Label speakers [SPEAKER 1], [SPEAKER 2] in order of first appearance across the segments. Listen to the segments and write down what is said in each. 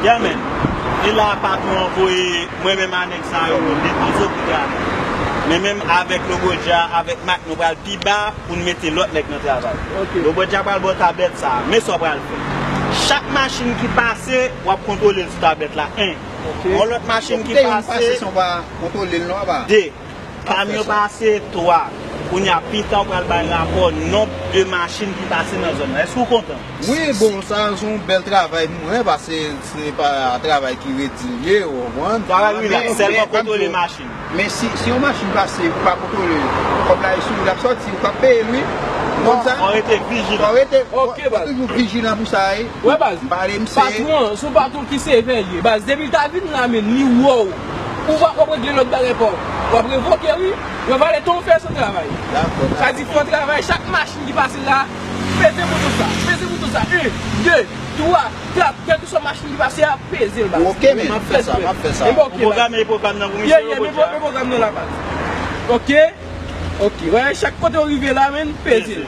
[SPEAKER 1] Yeah man, e la patron an voye mwen menm a nèg sa yo nou depoze pou travay. Men menm avèk Lobodja avèk Mak nou pral pi ba pou nou mete lòt nèg nan travay. Lobodja pral ba w tablèt sa a. Men sa w pral fè. Chak machin ki pase, w ap kontwole l sou tablèt la 1. Yon lòt machin ki
[SPEAKER 2] pase, 2. Pami
[SPEAKER 1] yo pase 3. Kounye a pita ou pral bay rapò nonb de machin ki pase nan zòn nan. Eske ou kontan? Wi, bon sa
[SPEAKER 2] se yon bèl travay nou wè pase se pa travay ki regilye ou konprann. Travay rilaks, sèlman
[SPEAKER 1] kontwole machin. Men si yon machin
[SPEAKER 2] pase ou pa kontwole l, kòb la e sou ou l ap sòti, ou pap peye l wi. Ou konn sa? Fò rete
[SPEAKER 1] vijilan. Fò toujou
[SPEAKER 2] vijilan pou sa wi. Wè baz,
[SPEAKER 3] patwon an se yon patwon ki sevè li ye baz, depi l ta vin la menn li wè w. Ou va wap regle lòt bagay paw. Wap revoke wi. Yo vale tan ou fè san travay. Sa di fon travay chak machin ki pase la peze bouton sa. Peze bouton sa 1, 2, 3, 4 kèlke swa machin ki pase a peze l baz. Ok men map fè sa
[SPEAKER 2] map fè sa. Ou pwograme e
[SPEAKER 1] pwogram nan pou misye yo bòt
[SPEAKER 3] ya. Ok ok wè chak kote ou rive la men peze l.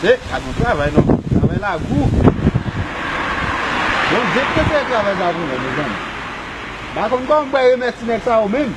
[SPEAKER 2] Se pa t yon travay non. Travay la gou. Bondye ki te kreye travay sa pou nou, mezanmi. M pa konn kòman pou bay remèt ti nèg sa yo menm.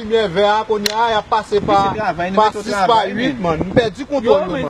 [SPEAKER 2] Limyè vè a kounye a yap pase pa 6 pa 8 man m pèdi kontwòl yo man.